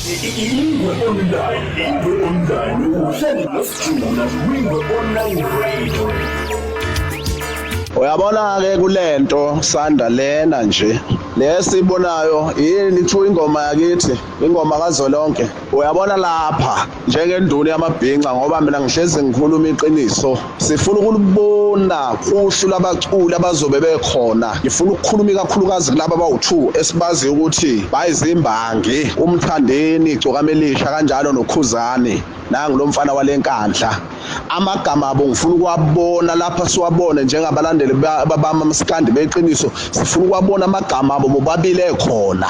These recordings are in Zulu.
Ingwe Online, Ingwe Online, uhleli nosijula Ingwe Online Radio. Uyabona-ke kule nto sanda lena nje lesi ibonayo yini kuthiwa ingoma yakithi ingoma kazwelonke uyabona lapha njengenduna yamabhinca ngoba mina ngihlezi ngikhuluma iqiniso sifuna ukulibona uhlu labaculi abazobe bekhona ngifuna ukukhuluma ikakhulukazi kulaba abawu-two esibaziyo ukuthi bayizimbangi umthandeni igcokamelisha kanjalo nokhuzani nangu lo mfana wale nkandla amagama abo ngifuna ukuwabona lapha siwabone njengabalandeli babama masikandi beqiniso sifuna ukuwabona amagama abo bobabili ekhona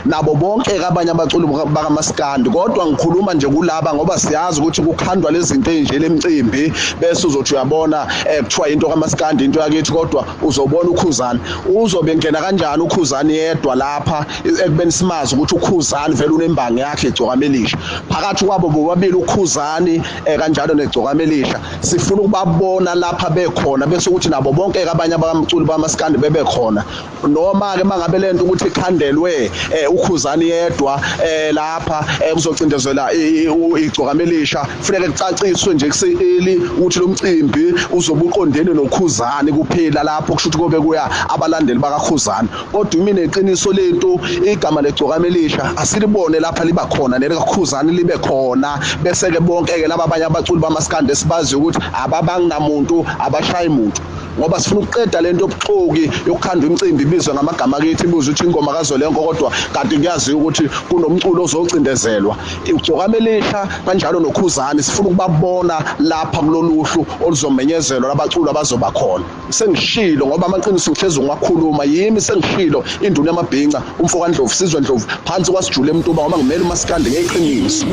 nabo bonke abanye abaculi bakamasikandi kodwa ngikhuluma nje kulaba ngoba siyazi ukuthi kukhandwa lezinto enje lemcimbi bese uzothi uyabona eh, kuthiwa into kamasikandi into yakithi kodwa uzobona ukhuzani uzobe ngena kanjani ukhuzani yedwa lapha ekubeni simazi ukuthi ukhuzani vele unembangi yakhe igcokamelisha phakathi kwabo bobabili ukhuzani eh, kanjalo negcokama elisha sifuna ukubabona lapha bekhona bese ukuthi nabo bonke abanye abamculi bamaskandi bebe khona noma ke mangabe lento ukuthi ikhandelwe eh, ukhuzani yedwa eh, lapha eh, kuzocindezela igcokama elisha kufanele kucaciswe nje kuseli ukuthi lo mcimbi uzobuqondene nokhuzani kuphela lapho kusho ukuthi kobe kuya abalandeli bakakhuzani kodwa imina iqiniso lethu igama legcokama elisha asilibone lapha liba khona nelikakhuzani libe khona bese ke bonke ke laba abanye abaculi bamaskandi esibazi ukuthi ababangamuntu abashayi muntu ngoba sifuna ukuqeda lento yobuxoki yokukhanda umcimbi ibizwe ngamagama kithi ibuze ukuthi ingoma kazolenko kodwa kanti kuyaziwa ukuthi kunomculo ozocindezelwa ugcokama elisha kanjalo nokhuzani sifuna ukubabona lapha kuloluhlu oluzomenyezelwa labaculi abazoba khona sengishilo ngoba amaqiniso ngihlezi ngiwakhuluma yimi sengishilo induna yamabhinca umfoka Ndlovu sizwe Ndlovu phansi kwasijule emtuba ngoba ngimele umasikande ngeqiniso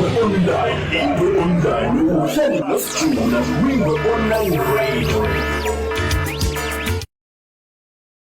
online